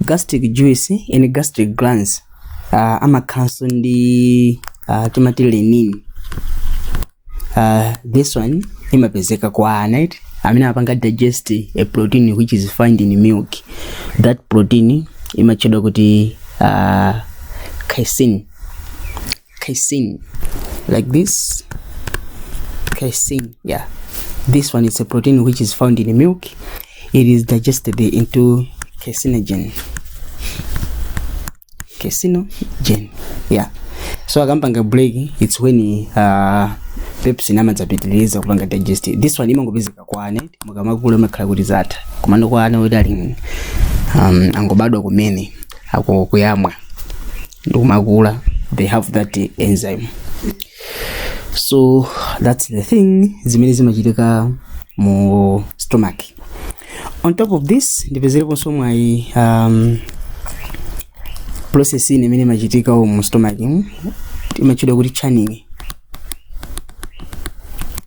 gastric juice and gastric glands uh, amakhalanso ndi uh, timati rennin uh, this one imapezeka kwa ana eti amene amapanga digest protein which is found in milk that protein imatchedwa kuti uh, casein casein like this casein yeah this one is a protein which is found in milk it is digested into caseinogen caseinogen yeah so akapanga break it's when uh, pepsin amadzapitiriza kupanga digest this one imangopezeka kwa ana mukamakula amakhala kuti zatha komano kwa ana oti ali um, angobadwa kumene akuyamwa ndikumakula they have that eh, enzyme so that's the thing zimene zimachitika mu stomach on top of this ndipezereponso mwayi um, process ina imene imachitika mu stomach mm, imatchedwa kuti churning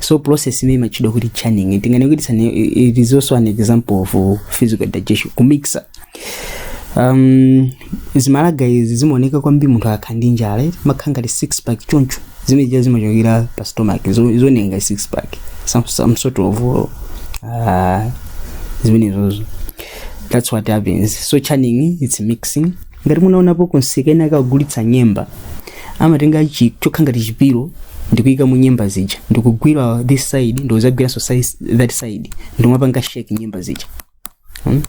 so process imene imatchedwa kuti churning tinganene kuti chani it is also an example of uh, physical digestion kumixa um, zimalata izi zimaoneka kwambiri munthu akakhala ndi njala eti makhala ngati six pack choncho zimene zija zimachokera pa stomach zo- zioneka ngati six pack some, some sort of uh, zimenezo that's what happens so churning it's mixing ngati munaonapo kumsika ena akagulitsa nyemba amatenga chi- choka ngati chipilo ndikuyika mu nyemba zija ndikugwira this side ndikuzagwiranso size- that side ndomapanga shake nyemba zija hmm?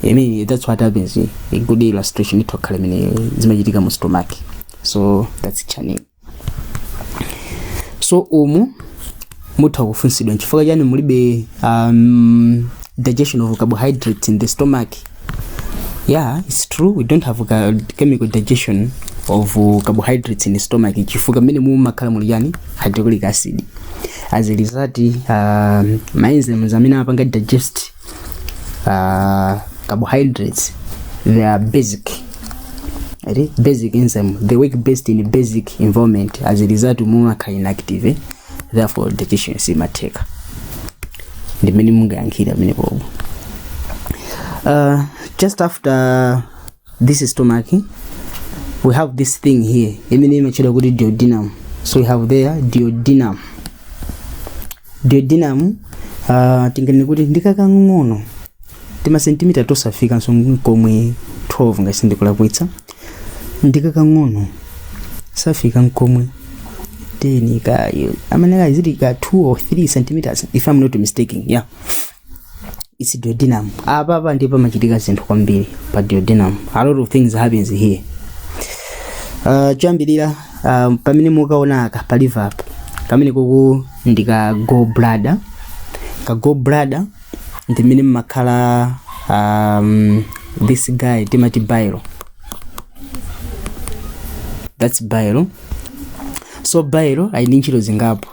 I mean, that's what happens a good illustration itokhala imene zimachitika mu stomach so that's churning so umu mutha kufunsidwa nchifukwa chani mulibe um, digestion of carbohydrates in the stomach yeah it's true we don't have ca- chemical digestion of uh, carbohydrates in the stomach chifukwa mmenemu mumakhala muli chani hydrochloric acid as a result um, ma enzymes amene amapanga digest uh, carbohydrates they are basic ati basic enzyme they work best in basic environment as a result mumakhala inactive therefore deficiency imatheka ndimene mungayankhira pamenepopo uh, just after this stomach we have this thing here imene imatchedwa kuti duodenum so we have there duodenum duodenum uh, tinganene kuti ndikakang'ono timasentimita tosafikanso nkomwe 12 ngati sindikulakwitsa ndikakang'ono safika nkomwe 10 ka amene kazili ka 2 or 3 centimeters if i'm not mistaken yeah it's duodenum apa apa ndipo pamachitika zinthu kwambiri pa duodenum a lot of things happens here uh, choyambirira uh, pamene mukuona aka pa liver apa kamene kuku ndi ndi ka gallbladder ka gallbladder ndi mmene mmakhala um, this guy timati bile that's bile so bile ali ndi ntchito zingapo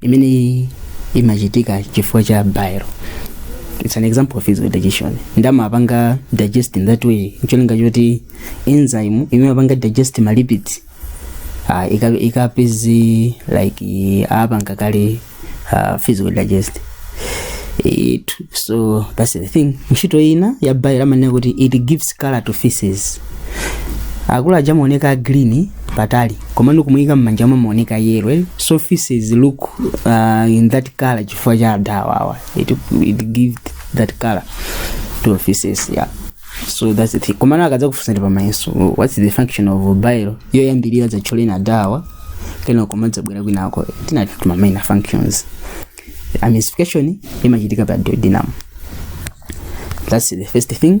imeneyi imachitika chifukwa cha bile it's an example of physical digestion nde amapanga digest in that way ncholinga choti enzyme imene imapanga digest ma lipids uh, ikapeze like apanga kale uh, physical digest it, so that's the thing ntchito ina ya bile amanena kuti it gives color to feces akulu aja amaoneka green patali koma mukamuyika mmanja omwe amaoneka yellow eh? so feces look uh, in that color chifukwa cha adawawa it, it gives that color to feces yeah so that's the thing komano akadzakufunsani pamayeso what's the function of bile yoyambirira dzatchuleni adawa kenako mudzabwera kwinako tinatchula ma minor functions emulsification imachitika pa duodenum that's the first thing